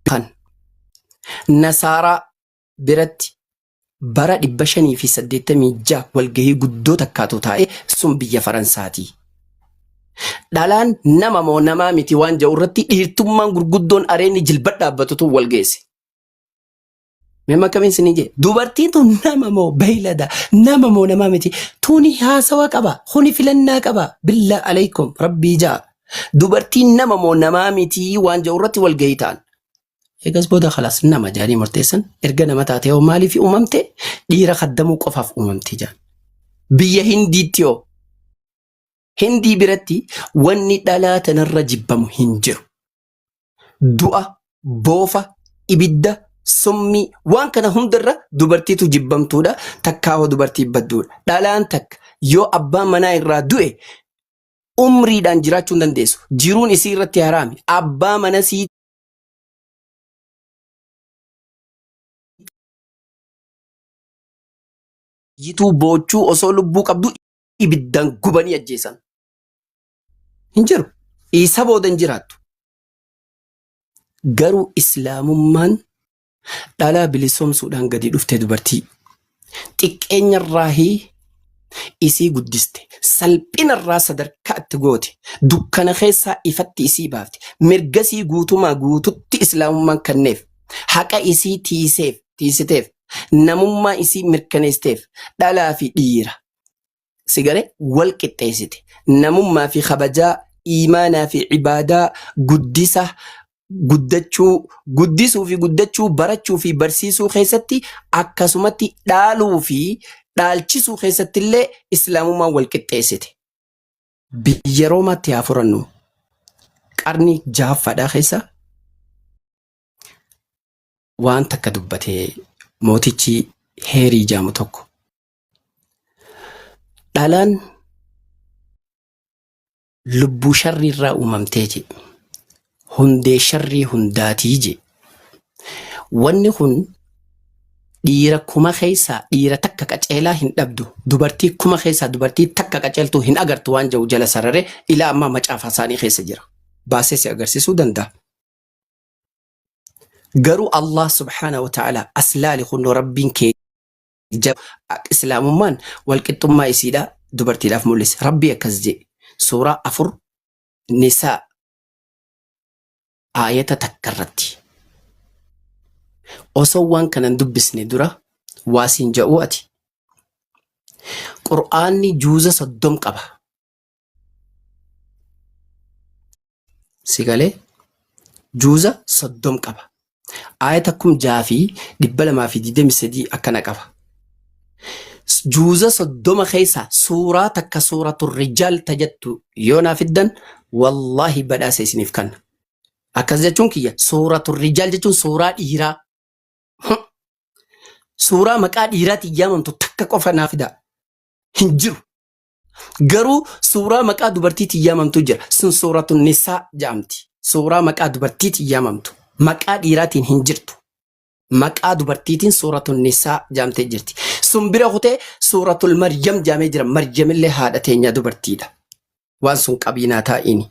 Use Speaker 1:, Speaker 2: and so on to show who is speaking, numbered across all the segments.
Speaker 1: Kan. Nasaaraa. biratti bara 586 walgahii guddoo takkaatu taa'e sun biyya Faransaati. Dhalaan nama moo namaa miti waan ja'u irratti dhiirtummaan gurguddoon areenni jilba dhaabbatu tun wal geesse. Mee makkamiin isinii jee dubartiin tun nama moo beeylada nama moo namaa miti tuni haasawa qaba kuni filannaa qaba billaa aleykum rabbii ja'a dubartiin nama moo namaa miti waan ja'u irratti wal gahitaan eegas booda kalaas nama jaanii murteessan erga nama taatee hoo maaliif uumamte dhiira kaddamuu qofaaf uumamte jaan biyya hindiitti hoo hindii biratti wanni dhalaa tanarra jibbamu hin jiru du'a, boofa, ibidda, summii waan kana hundarra dubartiitu jibbamtuudha takkaahoo dubartii badduudha. Dhalaan takka yoo abbaan manaa irraa du'e umriidhaan jiraachuu hin dandeessu. Jiruun isii irratti haraami. Abbaa mana sii yituu boochuu osoo lubbuu qabdu ibiddaan gubanii ajjeesan. Hin jiru. Isa booda hin jiraattu. Garuu islaamummaan dhalaa bilisoomsuudhaan gadi dhufte dubartii. Xiqqeenyarraahii isii guddiste salphinarraa sadarkaa itti goote dukkana keessaa ifatti isii baafte mirgasii guutumaa guututti islaamummaan kenneef haqa isii tiiseef tiisiteef namummaa isii mirkaneesiteef dhalaa fi dhiira si gale wal qixxeessite namummaa fi kabajaa iimaanaa fi ibaadaa guddisa guddachuu guddisuu fi guddachuu barachuu fi barsiisuu keessatti akkasumatti dhaaluu fi dhaalchisuu keessatti illee islaamummaan wal qixxeessite. Biyya Roomaatti haa furannu qarni jahaffaadhaa keessa waan takka dubbatee mootichi heerii jaamu tokko Dhalaan lubbuu sharrii irraa uumamtee je. Hundee sharrii hundaatii je. Wanni kun dhiira kuma keessaa dhiira takka qaceelaa hin dhabdu. Dubartii kuma keessaa dubartii takka qaceeltuu hin agartu waan jedhu jala sararee ilaa ammaa macaafa isaanii keessa jira. Baasee si agarsiisuu danda'a. Garuu Allah subhaanahu wa ta'ala as laali kunoo rabbiin kee Jab ak islaamummaan walqixxummaa isiidha dubartiidhaaf mul'ise. Rabbii akkas jee. Suuraa afur nisaa aayata takka irratti. Osoo waan kanan dubbisne dura waa siin ja'uu ati. Qur'aanni juuza soddom qaba. si galee juuza soddom qaba aayata kum jaha fi dhibba lamaa fi digdami sadii akkana qaba juuza soddoma keessa suuraa takka suuratu rijaal tajattu yoo naa fiddan wallaahi badhaasa isiniif kanna akkas jechuun kiyya suuratu rijaal jechuun suuraa dhiiraa suuraa maqaa dhiiraatiin yaamamtu takka qofa naa fidaa hin jiru Garuu suuraa maqaa dubartiitiin yaamamtu jira. Sun suuratu nisaa jedhamti. Suuraa maqaa dubartiitiin yaamamtu. Maqaa dhiiraatiin hin jirtu. Maqaa dubartiitiin suuratu nisaa jedhamtee jirti. Sun bira kutee suuratul maryam jedhamee jira. Maryamillee haadha teenyaa dubartiidha. Waan sun qabiinaa taa'ini.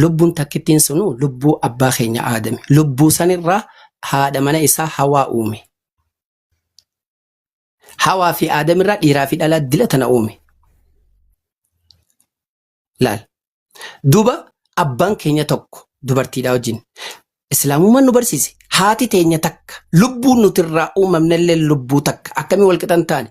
Speaker 1: Lubbuun takkittiin sunuu lubbuu abbaa keenya Aadami. Lubbuu sanirraa haadha mana isaa Hawaa uume. Hawaa fi Aadamirraa dhiiraa fi dhalaa dila tana uume. Laal. Duuba abbaan keenya tokko dubartiidhaa wajjin. Islaamummaan nu barsiise haati teenya takka lubbuu nutirraa uumamnellee lubbuu takka akkamii walqixan taane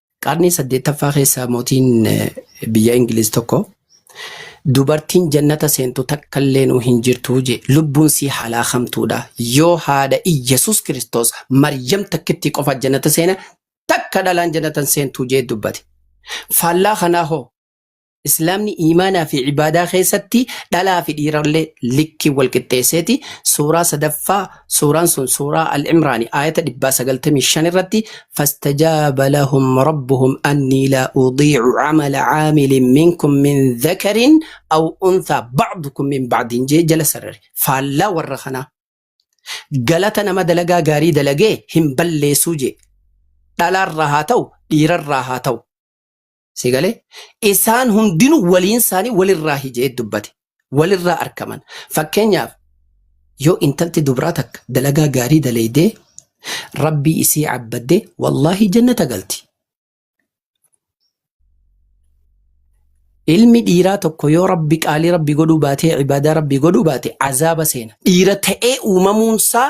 Speaker 1: Qarnii saddeettaffaa keessa mootiin biyya Ingiliz tokko dubartiin jannata seentu takka illee nuu hin jirtu je lubbuun sii halaakamtuudha yoo haadha Iyyasuus Kiristoos Maryam takkittii qofa jannata seena takka dhalaan jannatan seentuu jee dubbate. Faallaa kanaa hoo Islaamni iimaanaa fi ibaadaa keessatti dhalaa fi dhiirallee likkiin wal qixxeesseeti. Suuraa sadaffaa suuraan sun suuraa Al-Imraani aayata 195 irratti fastajaaba lahum rabbuhum annii laa udiicu camala caamilin minkum min dhakarin aw unthaa bacdukum min bacdin jee jala sarare. Faallaa warra kanaa. Galata nama dalagaa gaarii dalagee hin balleessuu jee. Dhalaarraa haa ta'u dhiirarraa haa ta'u. Si galee? Isaan hundinuu waliin isaanii walirraa hijee dubbate. Walirraa arkaman. Fakkeenyaaf yoo intalti dubraa takka dalagaa gaarii daleeydee rabbii isii cabbadde wallaahi jannata galti. Ilmi dhiiraa tokko yoo rabbi qaalii rabbi godhuu baatee ibaadaa rabbi godhuu baate azaaba seena. Dhiira ta'ee uumamuunsaa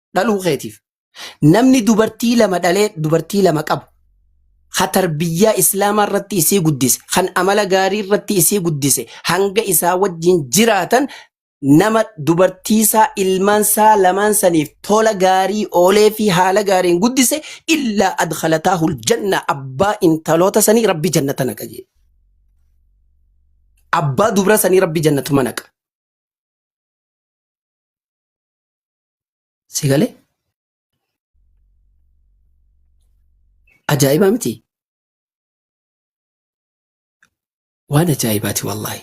Speaker 1: dhaluu keetiif namni dubartii lama dhalee dubartii lama qabu ha tarbiyyaa islaamaa irratti isii guddise kan amala gaarii irratti isii guddise hanga isaa wajjin jiraatan nama dubartiisaa ilmaansaa lamaan saniif tola gaarii oolee fi haala gaariin guddise illaa adkhalataahul janna abbaa intaloota sanii rabbi jannata naqa jee abbaa dubra sanii rabbi jannatuma naqa Si galee? Ajaa'ibaa miti? Waan ajaa'ibaati wallaahi.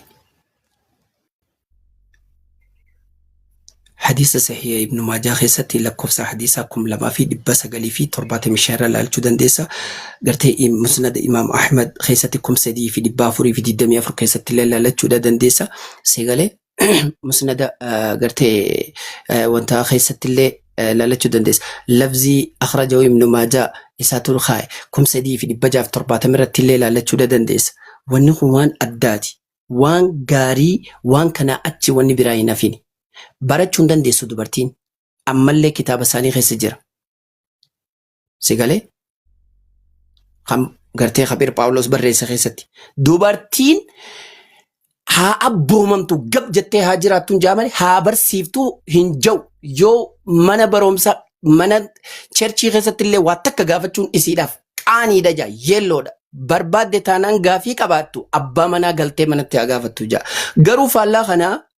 Speaker 1: Hadiisa sahiha Ibnu Maajaa keessatti lakkoofsa hadiisaa kum lamaa fi dhibba sagalii fi torbaatamii shan irra ilaalchuu dandeessa. Gartee im- musnada Imaam Ahmad keessatti kum sadii fi dhibba afurii fi digdamii afur keessatti illee ilaalachuudha dandeessa. Si galee? musnada ah, gartee eh, wanta keessattillee eh, laalachuu dandeessa. Labzii akhrajahu ibnu maajaa isaa tul kaaye kum sadii fi dhibba jaaf torbaatama irratti illee laalachuu da dandeessa. Wanni kun waan addaati. Waan gaarii waan kanaa achi wanni biraa hin hafini. Barachuu hin dandeessu dubartiin. Ammallee kitaaba isaanii keessa jira. Si galee? Kan gartee Kabir Phaawulos barreesse keessatti. Dubartiin haa abboomamtu gab jettee haa jiraattu hin jaa malee haa barsiiftu hin jau yoo mana barumsa mana cherchii keessatti illee waa takka gaafachuun isiidhaaf qaaniidha jaa yeelloodha barbaadde taanaan gaafii qabaattu abbaa manaa galtee manatti haa gaafattu jaa garuu faallaa kanaa